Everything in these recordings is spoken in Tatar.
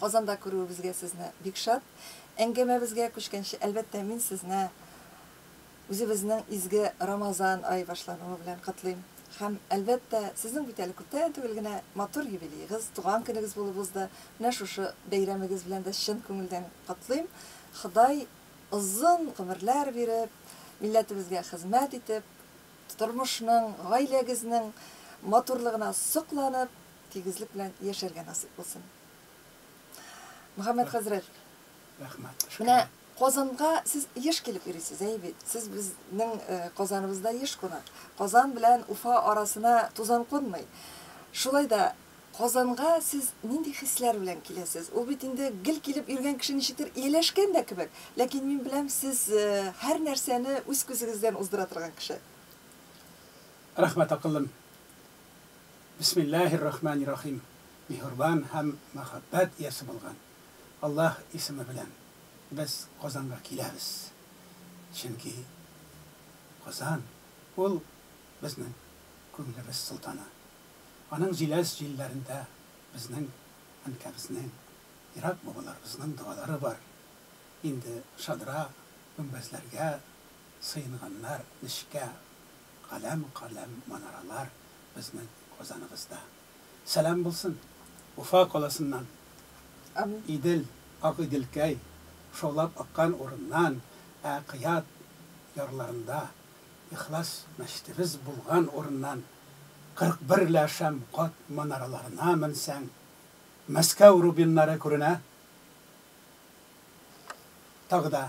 Казанда күрүебезгә сезне бик шат. Әңгәмәбезгә күчкәнче, әлбәттә, мин сезне үзебезнең изге Рамазан ае башлануы белән котлыйм. Һәм, әлбәттә, сезнең бит әле күптән түгел генә матур юбилеегыз, туган көнегез булып узды. Менә шушы бәйрәмегез белән дә чын күңелдән котлыйм. Ходай озын гомерләр биреп, милләтебезгә хезмәт итеп, тормышның, гаиләгезнең матурлыгына сокланып, Тигезлек белән яшәргә насыйп булсын. Мөхәммәд хәзрәт. Рәхмәт. Менә Казанга сез еш килеп йөрисез, әй бит. Сез безнең э, Казаныбызда еш кунак. Казан белән Уфа арасына тузан кунмый. Шулай да Казанга сез нинди хисләр белән киләсез? Ул бит инде гел килеп йөргән кеше ничектер ияләшкән дә кебек. Ләкин мин беләм, сез э, һәр нәрсәне үз күзегездән уздыра торган кеше. Рәхмәт, акыллым. Бисмиллаһир рахманир рахим Миһербан һәм мәхәббәт иясе булган Аллаһ исеме белән без Казанга киләбез. Чөнки Казан ул безнең күңелебез солтаны. Аның җиләс җилләрендә безнең әнкәбезнең, ерак бабаларыбызның догалары бар. Инде шадра, гөмбәзләргә сыенганнар, нечкә Каләм-каләм манаралар безнең Казаныбызда. Сәлам булсын Уфа каласыннан. Амин. Идел, ак Иделкәй, шаулап аккан урыннан, ә Кыят ярларында, Ихлас мәчетебез булган урыннан, 41 лә шәм кат манараларына менсәң, Мәскәү рубиннары күренә. Тагы да.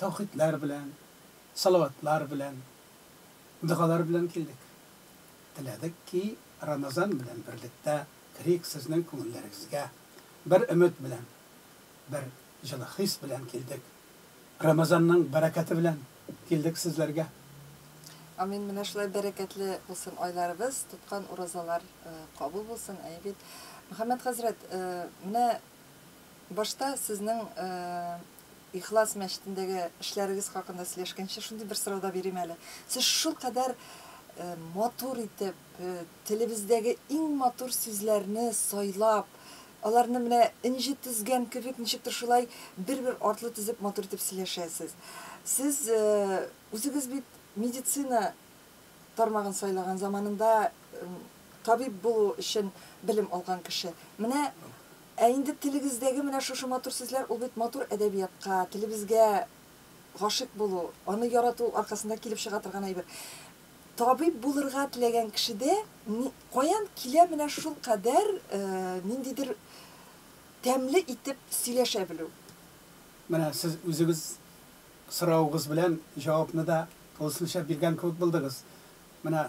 Тәүхидләр белән, салаватлар белән, догалар белән килдек. Теләдек ки, Рамазан белән берлектә керик сезнең күңелләрегезгә. Бер өмет белән, бер җылы хис белән килдек. Рамазанның бәрәкәте белән килдек сезләргә. Амин, менә шулай бәрәкәтле булсын айларыбыз, тоткан уразалар кабул булсын, әйе бит? Мөхәммәд хәзрәт, менә башта сезнең Ихлас мәчетендәге эшләрегез хакында сөйләшкәнче, шундый бер сорау да бирим әле. Сез шулкадәр матур итеп, телебездәге иң матур сүзләрне сайлап, аларны менә энҗе тезгән кебек, ничектер шулай бер-бер артлы тезеп матур итеп сөйләшәсез. Сез үзегез бит медицина тармагын сайлаган заманында табиб булу өчен белем алган кеше. Менә Ә инде телегездәге менә шушы матур сүзләр, ул бит матур әдәбиятка, телебезгә гашыйк булу, аны ярату аркасында килеп чыга торган әйбер. Табиб булырга теләгән кешедә ни, каян килә менә шулкадәр ниндидер тәмле итеп сөйләшә белү? Менә сез үзегез соравыгыз белән җавапны да тулысынча биргән кебек булдыгыз. Менә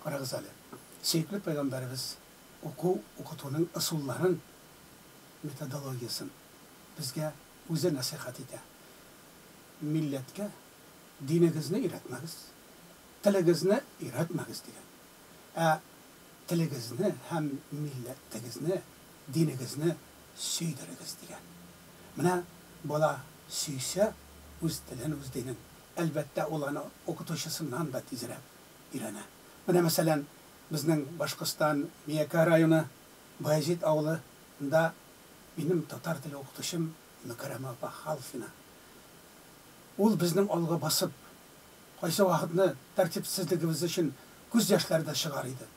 карагыз әле, сөекле пәйгамбәребез уку-укытуның ысулларын, методологиясен безгә үзе нәсыйхәт итә. Милләткә динегезне өйрәтмәгез, телегезне өйрәтмәгез, дигән. Ә телегезне һәм милләтегезне, динегезне сөйдерегез, дигән. Менә бала сөйсә үз телен, үз динен, әлбәттә, ул аны укытучысыннан да тизрәк өйрәнә. Менә, мәсәлән, Безнең Башкортстан Миякә районы Баязит авылы нда минем татар теле укытучым Мөкәрәмә апа Халфина. Ул безнең алга басып, кайсы вакытны тәртипсезлегебез өчен күз яшьләре дә чыгар иде,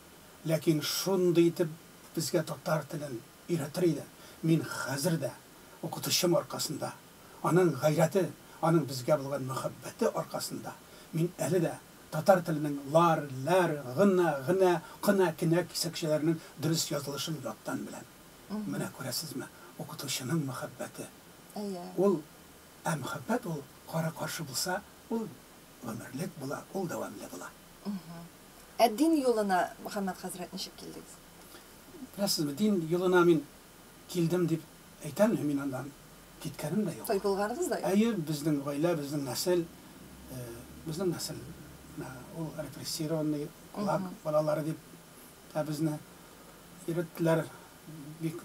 ләкин шундый итеп безгә татар телен өйрәтер иде, мин хәзер дә укытучым аркасында, аның гайрәте, аның безгә булган мәхәббәте аркасында мин әле дә Татар теленең лар, ләр, гына, гнә, кына, кенә кисәкчәләренең дөрес язылышын яттан беләм. Менә күрәсезме, укытучының мәхәббәте. Әйе. Ул, ә мәхәббәт ул кара-каршы булса, ул гомерлек була, ул дәвамле була. Ә дин юлына, Мөхәммәт хәзрәт, ничек килдегез? Беләсезме, дин юлына мин Килдем дип әйтәме, мин аннан киткәнем дә юк. Туй булганыгыз да юк. Әйе, безнең гаилә, безнең нәсел, безнең нәсел, менә ул репрессированный кулак балалары дип тә безне йөреттеләр бик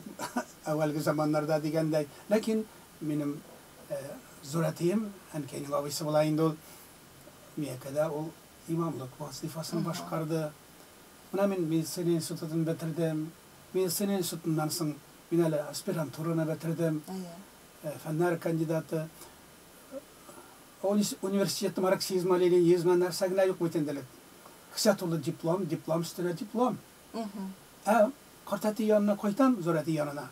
әүвәлге заманнарда дигәндәй. Ләкин минем зур әтием, әнкәйнең абыйсы була инде ул, Миякәдә ул имамлык вазыйфасын башкарды. Менә мин медицина институтын бетердем. Медицина институтыннан соң мин әле аспирантураны бетердем. Фәннәр кандидаты. Университет марксизмы, ленинизмы, нәрсә генә юк бит инде элек. Кесә тулы диплом, диплом өстенә диплом. Ә картәти янына кайтам, зур әти янына.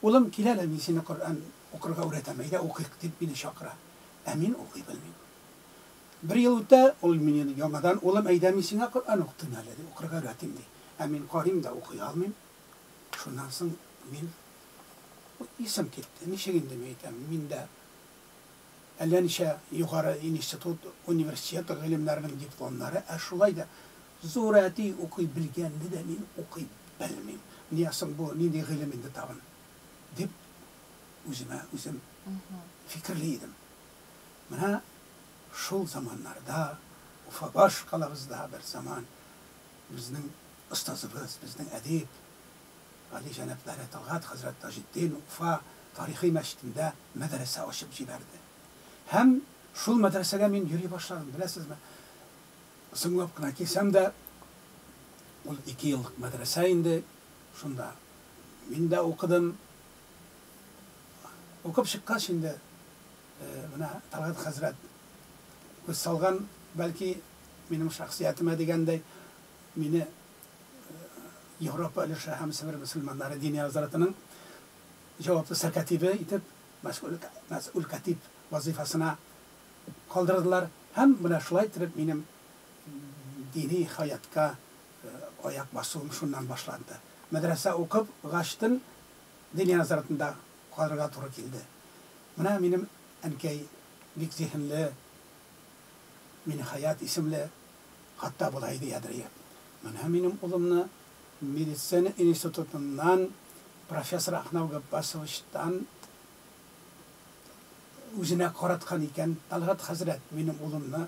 Улым, кил әле, мин сине Коръән укырга үрәтәм, әйдә укыйк, дип мине чакыра. Ә мин укый белмим. Бер ел үтә, ул мине яңадан, Улым, әйдә, мин сиңа Коръән укытыйм әле, дип, укырга өйрәтим, ди. Ә мин карыйм да, укый алмыйм. Шуннан соң мин, исем китте, ничек инде мин әйтәм, мин дә әллә ничә югары институт, университет гыйлемнәренең дипломнары, ә шулай да зур әти укый белгәнне дә мин укый белмим. Менә соң бу нинди гыйлем инде тагын, дип, үземә үзем фикерли идем. Менә шул заманнарда, Уфабаш калабызда бер заман безнең остазыбыз, безнең әдип, гали җәнаплары Талгат хәзрәт Таҗетдин Уфа тарихи мәчетендә мәдрәсә ачып җибәрде. Һәм шул мәдрәсәгә мин йөри башладым. Беләсезме, соңлап кына килсәм дә, ул ике еллык мәдрәсә инде, шунда мин дә укыдым. Укып чыккач инде, Менә Талгат хәзрәт күз салган, бәлки, минем шәхсиятемә дигәндәй, мине Европа өлеше һәм Себер мөселманнары дини назаратының җаваплы сәркатибе итеп, мәсгуль, мәсгуль катиб вазыйфасына калдырдылар һәм менә шулай итеп минем дини хаятка аяк басуым шуннан башланды. Мәдрәсә укып гачтын, Дөнья назаратында калырга туры килде. Менә минем әнкәй бик зиһенле, Минехаят исемле, хатта болай ди Әдриев, Менә минем улымны медицина институтыннан профессор Ахнау Габбасовичтан үзенә караткан икән Тәлгать хәзрәт, минем улымны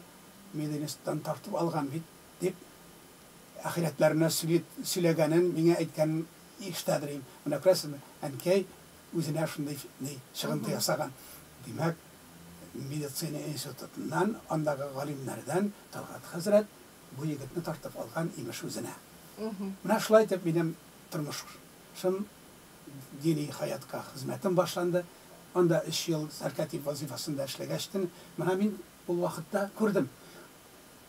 мединституттан тартып алган бит, дип, ахирәтләренә сөйләгәнен миңа әйткәнен Иштә белим. Менә күрәсезме, әнкәй үзенә шундый ни, чыгынды ясаган. Димәк, медицина институтыннан, андагы галимнәрдән Талгат хәзрәт бу егетне тартып алган, имеш, үзенә. Менә шулай итеп минем тормышым, дини хәятка хезмәтем башланды. Анда өч ел сәркатип вазыйфасында эшләгәчтен, менә мин ул вакытта күрдем.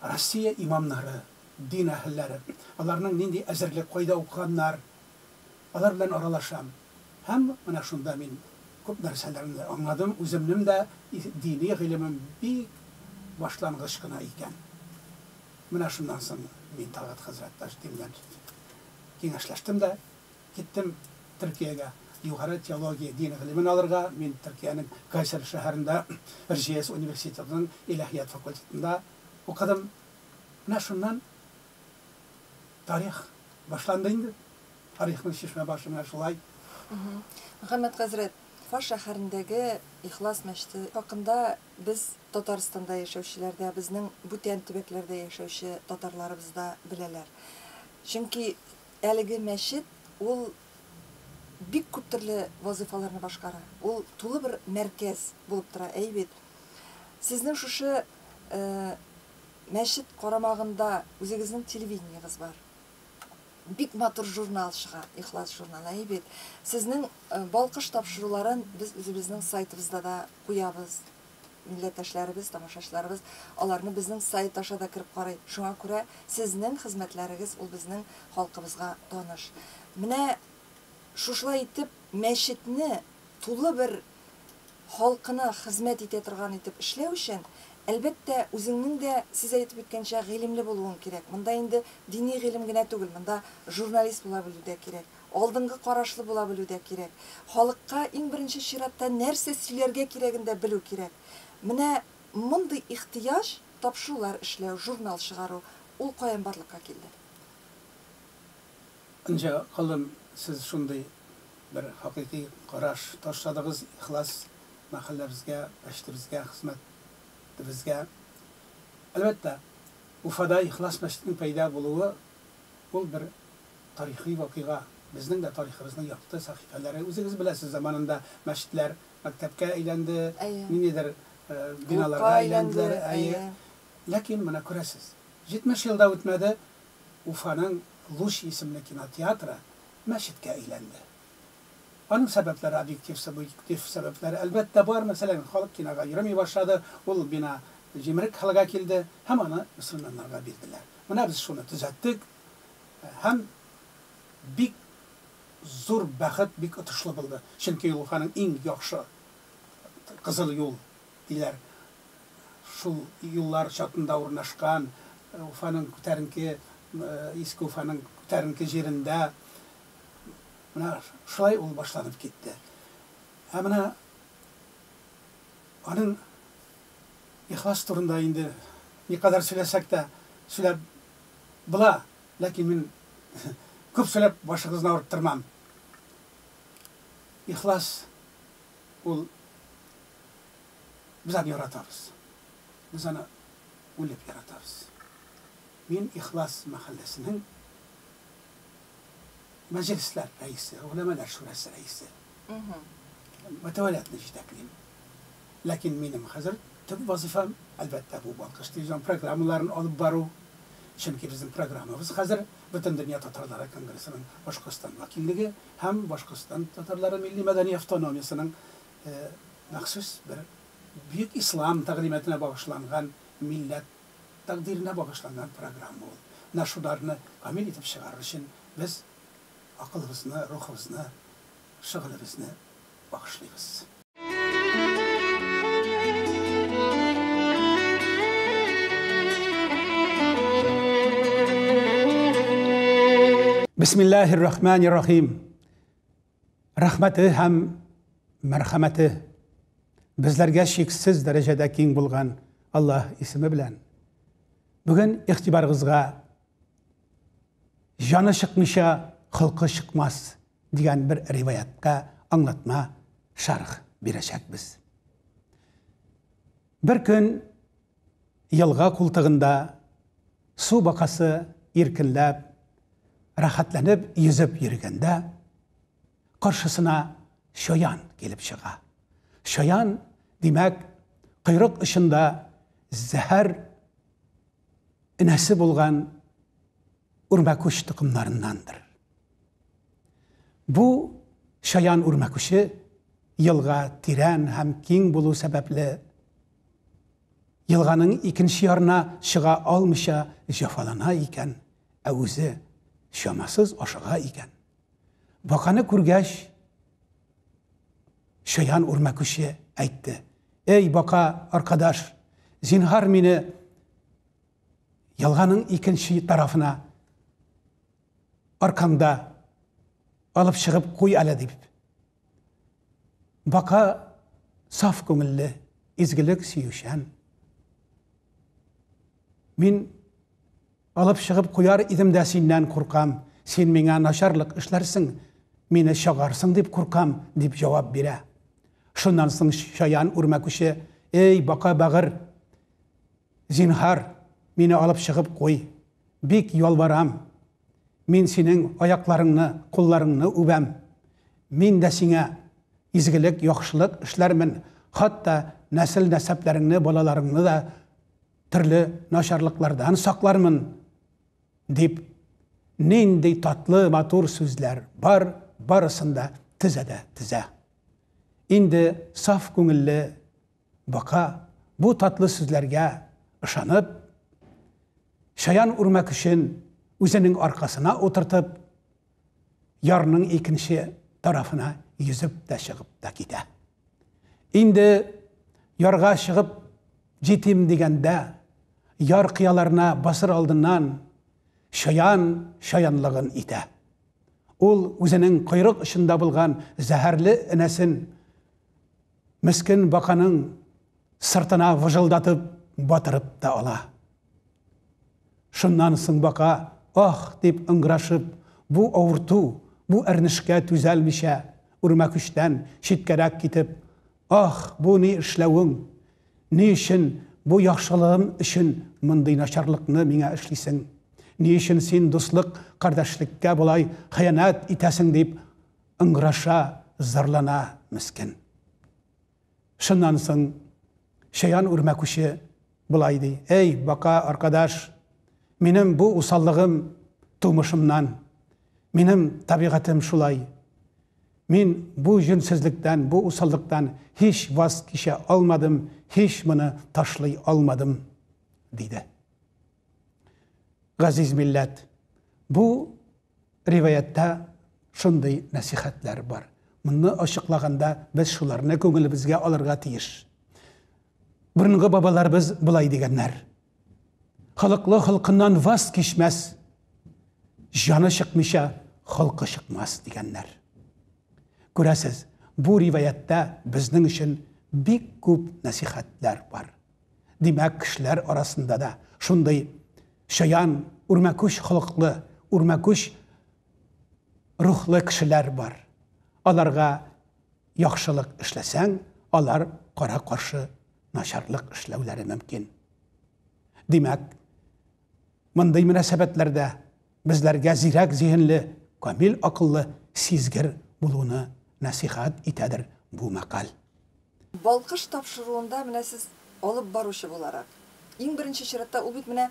Россия имамнары, дин әһелләре, аларның нинди әзерлек, кайда укыганнар, алар белән аралашам. Һәм менә шунда мин күп нәрсәләрне дә аңладым, үземнем дә дини гыйлемем бик башлангыч кына икән. Менә шуннан соң мин Талгат хәзрәт Таҗетдин белән киңәшләштем дә, Киттем Төркиягә югары теология дин гыйлемен алырга. Мин Төркиянең Кайсери шәһәрендә Эрҗияс университетының иләһият факультетында укыдым. Менә шуннан тарих башланды инде. Тарихның чишмә башы менә шулай. Мөхәммәт хәзрәт, Фаш шәһәрендәге Ихлас мәчете хакында без Татарстанда яшәүчеләр дә, безнең бүтән төбәкләрдә яшәүче татарларыбыз да беләләр. Чөнки Әлеге мәчет ул бик күп төрле вазыйфаларны башкара. Ул тулы бер мәркәз булып тора, әй бит. Сезнең шушы мәчет карамагында үзегезнең телевидениегез бар. Бик матур журнал чыга, Ихлас журналы, әй бит. Сезнең балкыш тапшыруларын без үзебезнең сайтыбызда да куябыз. Милләттәшләребез, тамашачыларыбыз аларны безнең сайт аша да кереп карый. Шуңа күрә сезнең хезмәтләрегез ул безнең халкыбызга таныш. Менә шушылай итеп мәчетне тулы бер халкына хезмәт итә торган итеп эшләү өчен, әлбәттә, үзеңнең дә, сез әйтеп үткәнчә, гыйлемле булуың кирәк. Монда инде дини гыйлем генә түгел, монда журналист була белү дә кирәк. Алдынгы карашлы була белү дә кирәк. Халыкка иң беренче чиратта нәрсә сөйләргә кирәген дә белү кирәк. Менә мондый ихтыяҗ, тапшырулар эшләү, журнал чыгару, ул каян барлыкка килде? Энҗе галым, сез шундый бер хакыйкый караш ташладыгыз, ихлас мәхәлләбезгә, мәчетебезгә, хезмәтебезгә. Әлбәттә, Уфада Ихлас мәчетенең пәйда булуы, ул бер тарихи вакыйга, безнең дә тарихыбызның якты сәхифәләре. Үзегез беләсез, заманында мәчетләр мәктәпкә әйләнде, ниндидер биналарга әйләнделәр, әйе. Ләкин, менә күрәсез, 70 ел да үтмәде, Уфаның Луч исемле кинотеатры мәчеткә әйләнде. Аның сәбәпләре объектив, субъектив сәбәпләре, әлбәттә, бар. Мәсәлән, халык кинога йөрми башлады, ул бина җимерек хәлгә килде һәм аны мөселманнарга бирделәр. Менә без шуны төзәттек. Һәм бик зур бәхет, бик отышлы булды. Чөнки ул Уфаның иң яхшы кызыл юл диләр. Шул юллар чатында урнашкан, Уфаның күтәренке, Иске Уфаның күтәренке җирендә. Менә шулай ул башланып китте. Ә менә аның ихлас турында инде никадәр сөйләсәк тә, сөйләп Була, ләкин мин күп сөйләп башыгызны авырттырмам. Ихлас ул без аны яратабыз. Без аны үлеп яратабыз. Мин Ихлас мәхәлләсенең мәҗлесләр рәисе, Гөләмәләр шурасы рәисе. Мхм. Мөтәвәлиятне җитәклим. Ләкин минем хәзер төп вазыйфам, әлбәттә, бу Балкыш телевизион программаларын алып бару. Чөнки безнең программабыз хәзер Бөтендөнья татарлары конгрессының Башкортстан вәкиллеге һәм Башкортстан татарлары милли-мәдәни автономиясенең махсус бер бөек ислам тәгълиматына багышланган, милләт тәкъдиренә багышланган программа ул. Менә шуларны камил итеп чыгарыр өчен без акылыбызны, рухыбызны, шөгылебезне багышлыйбыз. Бисмиллаһир рахманир рахим. Рәхмәте һәм мәрхәмәте безләргә шиксез дәрәҗәдә киң булган Аллаһ исеме белән. Бүген игътибарыгызга җаны чыкмыйча, холкы чыкмас дигән бер риваятка аңлатма, шәрх бирәчәкбез. Бер көн елга култыгында су бакасы иркенләп, рәхәтләнеп йөзеп йөргәндә, каршысына чаян килеп чыга. Чаян, димәк, койрык очында зәһәр энәсе булган үрмәкүч токымнарындандыр. Бу чаян үрмәкүче елга тирән һәм киң булу сәбәпле, елганың икенче ярына чыга алмыйча җәфалана икән, ә үзе чамасыз ашыга икән. Баканы күргәч, чаян үрмәкүче әйтте. Эй, бака, аркадаш, зинһар мине ялганың икенче тарафына аркамда алып чыгып куй әле дип. Бака саф күңелле, изгелек сөючән. Мин Алып чыгып куяр идем дә синнән куркам, син миңа начарлык эшләрсең, мине чагарсың дип куркам, дип җавап бирә. Шуннан соң чаян үрмәкүче, Эй, бака бәгырь, зинһар, мине алып чыгып куй, бик ялварам, мин синең аякларыңны, кулларыңны үбәм, мин дә сиңа изгелек, яхшылык эшләрмен, хатта нәсел-нәсәпләреңне, балаларыңны да төрле начарлыклардан саклармын, дип, нинди татлы, матур сүзләр бар, барысын да тезә дә тезә. Инде саф күңелле бака бу татлы сүзләргә ышанып, чаян үрмәк өчен үзенең аркасына утыртып, ярның икенче тарафына йөзеп тә чыгып та китә. Инде ярга чыгып җитим дигәндә, яр кыяларына басыр алдыннан шаян шаянлыгын итә. Ул үзенең койрык очында булган зәһәрле энәсен мескен баканың Сыртына выжылдатып батырып та ала. Шуннан соң бака, ах! дип ыңгырашып, бу авырту, бу әрнешкә түзәлмичә, үрмәкүчтән читкәрәк китеп, Ах, бу ни эшләвең? Ни өчен бу яхшылыгың өчен мондый начарлыкны миңа эшлисең? Ни өчен син дуслык, кардәшлеккә болай хыянәт итәсең? дип ыңгыраша, зарлана, мескен. Шуннан соң Чаян үрмәкүче болай ди, Әй, бака аркадаш, минем бу усаллыгым тумышымнан, минем табигатем шулай. Мин бу җүнсезлектән, бу усаллыктан һич ваз кичә алмадым, һич моны ташлый алмадым, диде. Газиз милләт, бу Риваятьтә шундый нәсыйхәтләр бар. Моны ачыклаганда, без шуларны күңелебезгә алырга тиеш. Борынгы бабаларыбыз болай дигәннәр. Холыклы холкыннан ваз кичмәс, җаны чыкмыйча, холкы чыкмас, дигәннәр. Күрәсез, бу риваятьтә безнең өчен бик күп нәсыйхәтләр бар. Димәк, кешеләр арасында да шундый чаян, үрмәкүч холыклы, үрмәкүч рухлы кешеләр бар. Аларга яхшылык эшләсәң, алар кара-каршы начарлык эшләүләре мөмкин. Димәк, мондый мөнәсәбәтләрдә безләргә зирәк зиһенле, камил акыллы, сизгер булуны нәсыйхәт итәдер бу мәкаль. Балкыш тапшыруында менә сез алып баручы буларак, иң беренче чиратта, ул бит менә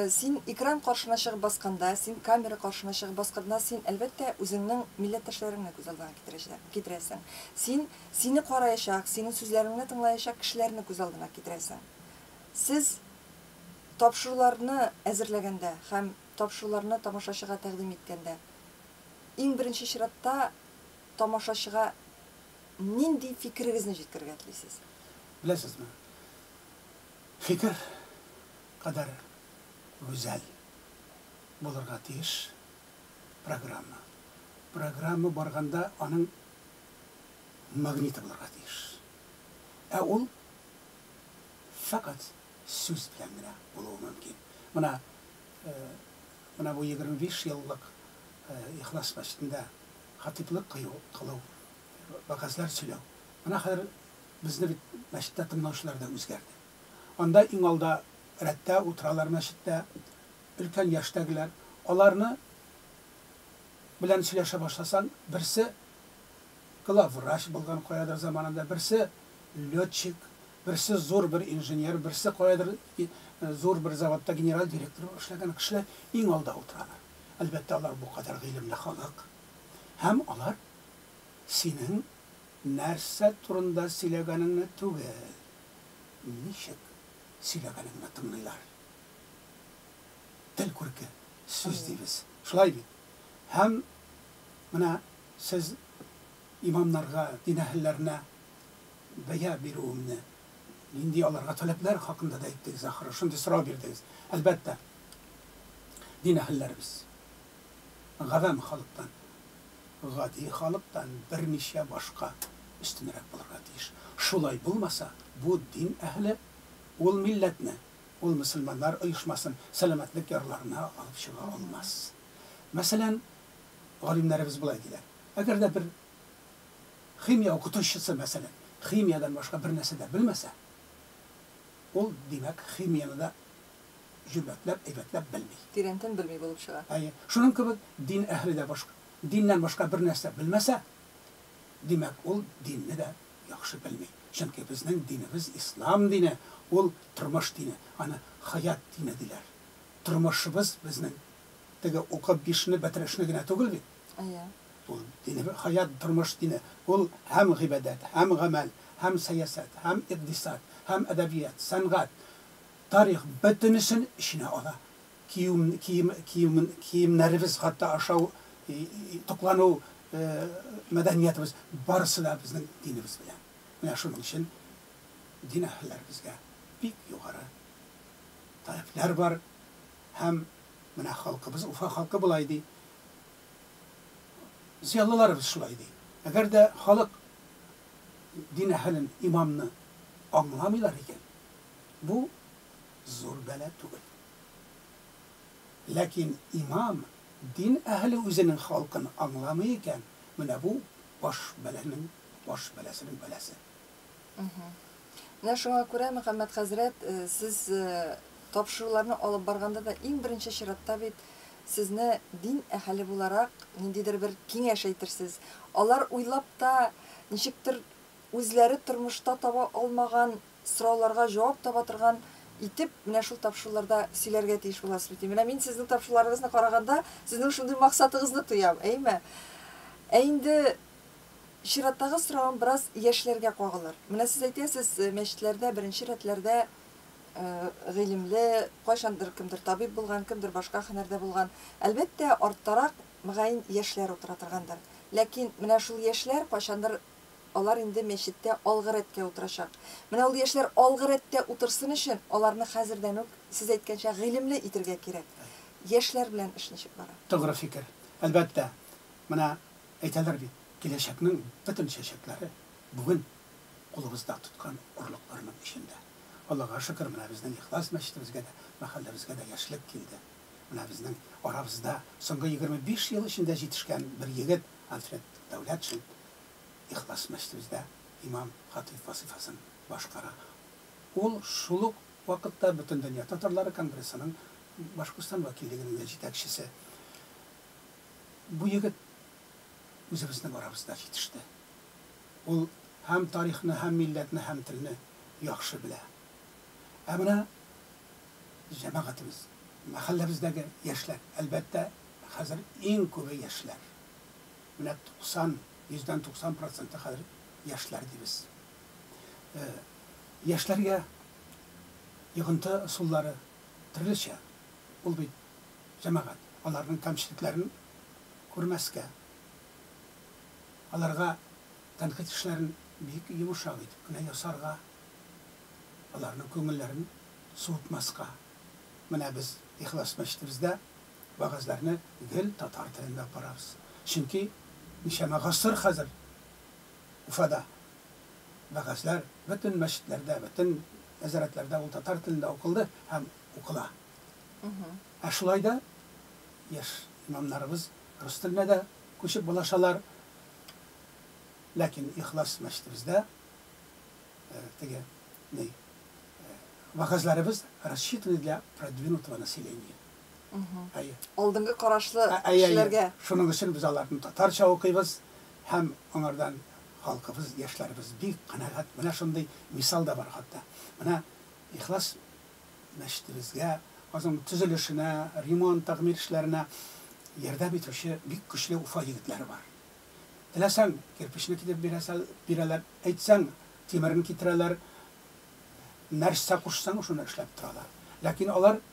син экран каршына чыгып басканда, син камера каршына чыгып басканда, син, әлбәттә, үзеңнең милләттәшләреңне күз алдына китерәчәк, китерәсең. Син сине караячак, синең сүзләреңне тыңлаячак кешеләрне күз алдына китерәсең. Сез тапшыруларны әзерләгәндә һәм Тапшыруларны тамашачыга тәкъдим иткәндә, иң беренче чиратта тамашачыга нинди фикерегезне җиткерергә телисез? Беләсезме, фикер кадәр гүзәл булырга тиеш программа. Программа барганда аның магниты булырга тиеш. Ә ул фәкать сүз белән генә булуы мөмкин. Менә, менә бу егерме биш еллык Ихлас мәчетендә хатыйплык кыю, кылу, вәгазьләр сөйләү. Менә хәзер безне бит мәчеттә тыңлаучылар да үзгәрде. Анда иң алда рәттә утыралар мәчеттә өлкән яшьтәгеләр. Аларны белән сөйләшә башласаң, берсе главврач булган каядыр заманында, берсе летчик, Берсе зур бер инженер, берсе каядыр зур бер заводта генераль директор булып эшләгән кешеләр иң алда утыралар. Әлбәттә, алар бу кадәр гыйлемле халык. Һәм алар синең нәрсә турында сөйләгәнеңне түгел, ничек сөйләгәнеңне тыңлыйлар. Тел күрке, сүз дибез. Шулай бит? Һәм менә сез имамнарга, дин әһелләренә бәя бирүемне, нинди аларга таләпләр хакында да әйттегез, ахры, шундый сорау бирдегез. Әлбәттә, дин әһелләребез гавам халыктан, гади халыктан берничә башка өстенрәк булырга тиеш. Шулай булмаса, бу дин әһеле ул милләтне, ул мөселманнар оешмасын сәламәтлек ярларына алып чыга алмас. Мәсәлән, галимнәребез болай диләр, әгәр дә бер Химия укытучысы, мәсәлән, химиядән башка бернәрсә дә белмәсә, ул, димәк, химияне дә җөмләтләп, әйбәтләп белми. Тирәнтен белми булып чыга. Әйе. Шуның кебек, дин әһеле дә башка, диннән башка бернәрсә белмәсә, димәк, ул динне дә яхшы белми. Чөнки безнең динебез, ислам дине, ул, тормыш дине. Аны хаят дине диләр. Тормышыбыз безнең Теге укып бишне бетерешне генә түгел бит. Әйе. Ул дине бер хаят, тормыш дине. Ул һәм гыйбадәт, һәм гамәл, һәм сәясәт, һәм икъдисад, һәм әдәбият, сәнгать, тарих, бөтенесен эченә ала. Киюм, кием, кием, киемнәребез хәтта ашау, туклану мәдәниятебез, барысы да безнең динебез белән. Менә шуның өчен дин әһелләребезгә бик югары таләпләр бар, Һәм менә халкыбыз, Уфа халкы болай ди, зыялыларыбыз шулай ди. Әгәр дә халык дин әһелен, имамны аңламыйлар икән, бу зур бәла түгел. Ләкин имам, дин әһеле үзенең халкын аңламый икән, менә бу баш бәланең баш бәласенең бәласе. Менә шуңа күрә, Мөхәммәт хәзрәт, сез тапшыруларны алып барганда да иң беренче чиратта бит сезне дин әһеле буларак ниндидер бер киңәш әйтерсез. Алар уйлап та, ничектер үзләре тормышта таба алмаган сорауларга җавап таба торган итеп менә шул тапшыруларда сөйләргә тиеш буласыз бит. Менә мин сезнең тапшыруларыгызны караганда, сезнең шундый максатыгызны тоям, әйме? Ә инде Чираттагы соравым бераз яшьләргә кагылыр. Менә сез әйтәсез, мәчетләрдә беренче рәтләрдә гыйлемле, кайчандыр кемдер табиб булган, кемдер башка һөнәрдә булган, әлбәттә, арттарак, мөгаен, яшьләр утыра торгандыр. Ләкин менә шул яшьләр кайчандыр алар инде мәчеттә алгы рәткә утырачак. Менә ул яшьләр алгы рәттә утырсын өчен, аларны хәзердән үк, сез әйткәнчә, гыйлемле итергә кирәк. Яшьләр белән эш ничек бара? Тугры фикер. Әлбәттә, менә Әйтәләр бит, киләчәкнең бөтен чәчәкләре бүген кулыбызда тоткан орлыкларның эчендә. Аллага шөкер, менә безнең Ихлас мәчетебезгә дә, мәхәлләбезгә дә яшьлек килде. Менә безнең арабызда соңгы егерме биш ел эчендә җитешкән бер егет, Альфред Дәүләтшин, Ихлас мәчетебездә имам, хатыйб вазыйфасын башкара. Ул шул ук вакытта Бөтендөнья татарлары конгрессының Башкортстан вәкиллегенең дә җитәкчесе. Бу егет үзебезнең арабызда җитеште. Ул һәм тарихны, һәм милләтне, һәм телне яхшы белә. Ә менә җәмәгатебез, мәхәлләбездәге яшьләр, әлбәттә, хәзер иң күбе яшьләр. Менә 90, йөздән 90 проценты хәзер яшьләр дибез. Яшьләргә йогынты ысуллары, Төрлечә ул бит җәмәгать. Аларның кәмчелекләрен күрмәскә, аларга тәнкыйть эшләрен бик йомшак итеп кенә ясарга, аларның күңелләрен суытмаска. Менә без Ихлас мәчетебездә вәгазьләрне гел татар телендә ук барабыз. Чөнки ничәмә гасыр хәзер Уфада. Вәгазьләр бөтен мәчетләрдә, бөтен нәзарәтләрдә ул татар телендә укылды һәм укыла. Ә шулай да яшь имамнарыбыз рус теленә дә күчеп булашалар. Ләкин Ихлас мәчетебездә теге ни вәгазьләребез рассчитаны для продвинутого населения. Алдынгы карашлы кешеләргә. Шуның өчен без аларны татарча укыйбыз һәм аңардан халкыбыз, яшьләребез бик канәгать. Менә шундый мисал да бар хатта. Менә Ихлас мәчетебезгә, аның төзелешенә, ремонт, тәгъмир эшләренә ярдәм итүче бик көчле Уфа егетләре бар. Теләсәң, кирпечне китереп бирәсәл, бирәләр, әйтсәң, тимерен китерәләр, нәрсә кушсаң, шуны эшләп торалар. Ләкин алар.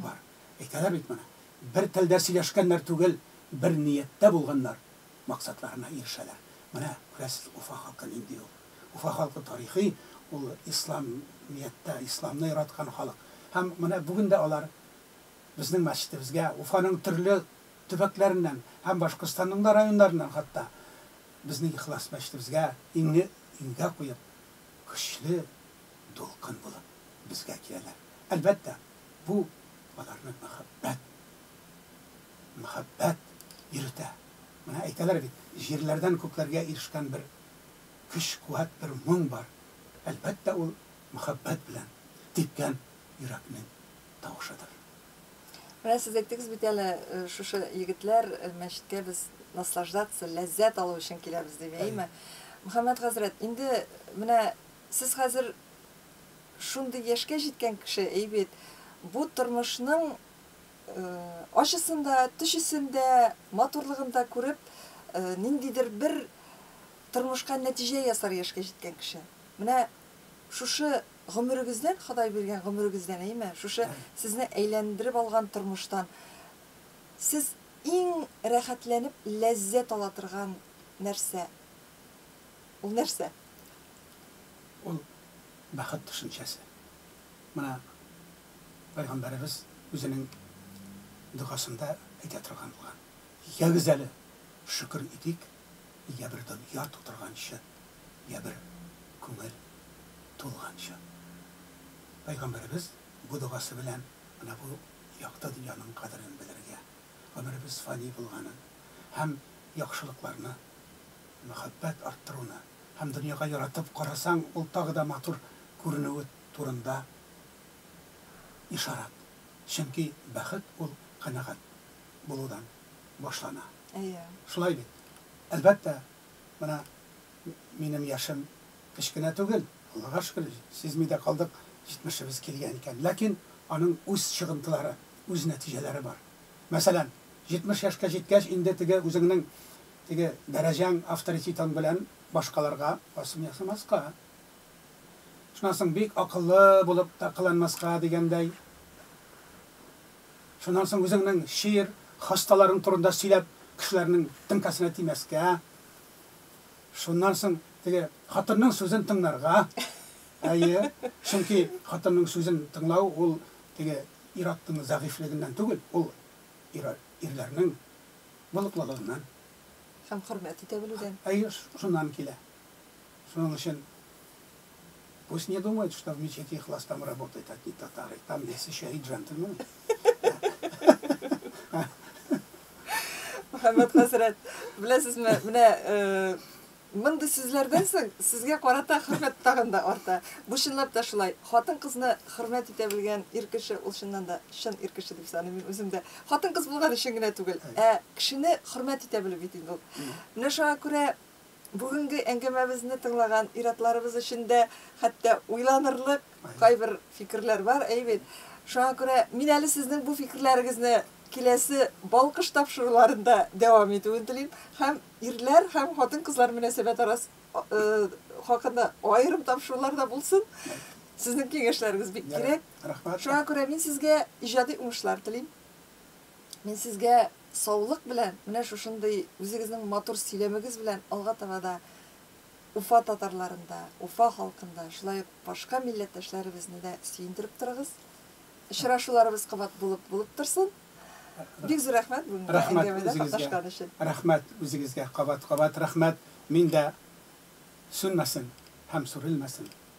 Бар. Әйтәләр бит моны, бер телдә сөйләшкәннәр түгел, бер нияттә булганнар, максатларына ирешәләр. Менә, күрәсез, Уфа халкы нинди ул. Уфа халкы тарихи, ул исламияттә, исламны яраткан халык. Һәм менә бүген дә алар безнең мәчетебезгә Уфаның төрле төбәкләреннән һәм Башкортстанның да районнарыннан хатта безнең ихлас мәчетебезгә иңне иңгә куеп, Көчле дулкын булып безгә киләләр. Әлбәттә, бу аларны мәхәббәт, мәхәббәт йөретә. Менә әйтәләр бит, җирләрдән күкләргә ирешкән бер көч-куәт, бер моң бар. Әлбәттә, ул мәхәббәт белән типкән йөрәкнең тавышыдыр. Менә сез әйттегез бит әле, шушы егетләр мәчеткә без наслаждаться, ләззәт алу өчен киләбез дип, әйеме? Мөхәммәт хәзрәт, инде менә сез хәзер шундый яшькә җиткән кеше, әй бит, бу тормышның ачысын да, төчесен дә, матурлыгын да күреп, ниндидер бер тормышка нәтиҗә ясар яшькә җиткән кеше. Менә шушы Гомерегездән, Ходай биргән гомерегездән, әйме, шушы сезне әйләндереп алган тормыштан сез иң рәхәтләнеп ләззәт ала торган нәрсә, ул нәрсә? Ул, бәхет төшенчәсе. Менә Пәйгамбәребез үзенең догасында әйтә торган булган, Ягез әле, шөкер итик, Йә бер дөнья тутырганчы, йә бер күңел тулганчы. Пәйгамбәребез бу догасы белән менә бу якты дөньяның кадерен белергә, гомеребез фани булганын һәм яхшылыкларны, мәхәббәт арттыруны һәм дөньяга яратып карасаң, ул тагы да матур күренүе турында ишарат. Чөнки бәхет ул канәгать булудан башлана. Әйе. Шулай бит? Әлбәттә, менә минем яшем кечкенә түгел, Аллага шөкер, сизми дә калдык, җитмешебез килгән икән. Ләкин аның үз чыгынтылары, үз нәтиҗәләре бар. Мәсәлән, җитмеш яшькә җиткәч, инде теге үзеңнең теге дәрәҗәң, авторитетың белән башкаларга басым ясамаска, шуннан соң бик акыллы булып та кыланмаска дигәндәй, Шуннан соң үзеңнең чир, хасталарың турында сөйләп, кешеләрнең теңкәсенә тимәскә. Шуннан соң теге хатынның сүзен тыңнарга. Әйе, чөнки хатынның сүзен тыңлау ул теге ир-атның зәгыйфьлегеннән түгел, ул ир-ирләрнең булыклылыгыннан. Һәм хөрмәт итә белүдән. Әйе, шуннан килә. Шуның өчен. Пусть не думают, что в мечети Ихлас там работают одни татары. Там есть еще и джентльмены. Мөхәммәд хәзрәт, беләсезме, менә э, мондый сүзләрдән соң сезгә карата хөрмәт тагын да арта. Бу чынлап та шулай. Хатын-кызны хөрмәт итә белгән ир кеше ул чыннан да чын ир кеше дип саныйм мин үзем дә. Хатын-кыз булган өчен генә түгел, ә кешене хөрмәт итә белү бит инде ул. Менә шуңа күрә Бүгенге әңгәмәбезне тыңлаган ир-атларыбыз эчендә хәтта уйланырлык кайбер фикерләр бар, әйе бит? Шуңа күрә мин әле сезнең бу фикерләрегезне киләсе Балкыш тапшыруларында дәвам итүен телим һәм ирләр һәм хатын-кызлар мөнәсәбәт арас хакында аерым тапшырулар да булсын. Сезнең киңәшләрегез бик кирәк. Шуңа күрә мин сезгә иҗади уңышлар телим. Мин сезгә Саулык белән, менә шушындый үзегезнең матур сөйләмегез белән алга таба да Уфа татарларын да, Уфа халкын да, шулай ук башка милләттәшләребезне дә сөендереп торыгыз. Очрашуларыбыз кабат булып булып торсын. Бик зур рәхмәт бүгенге Рәхмәт әңгәмәдә үзегезгә. катнашкан өчен. Рәхмәт үзегезгә кабат-кабат рәхмәт. Мин дә сүнмәсен һәм сүрелмәсен.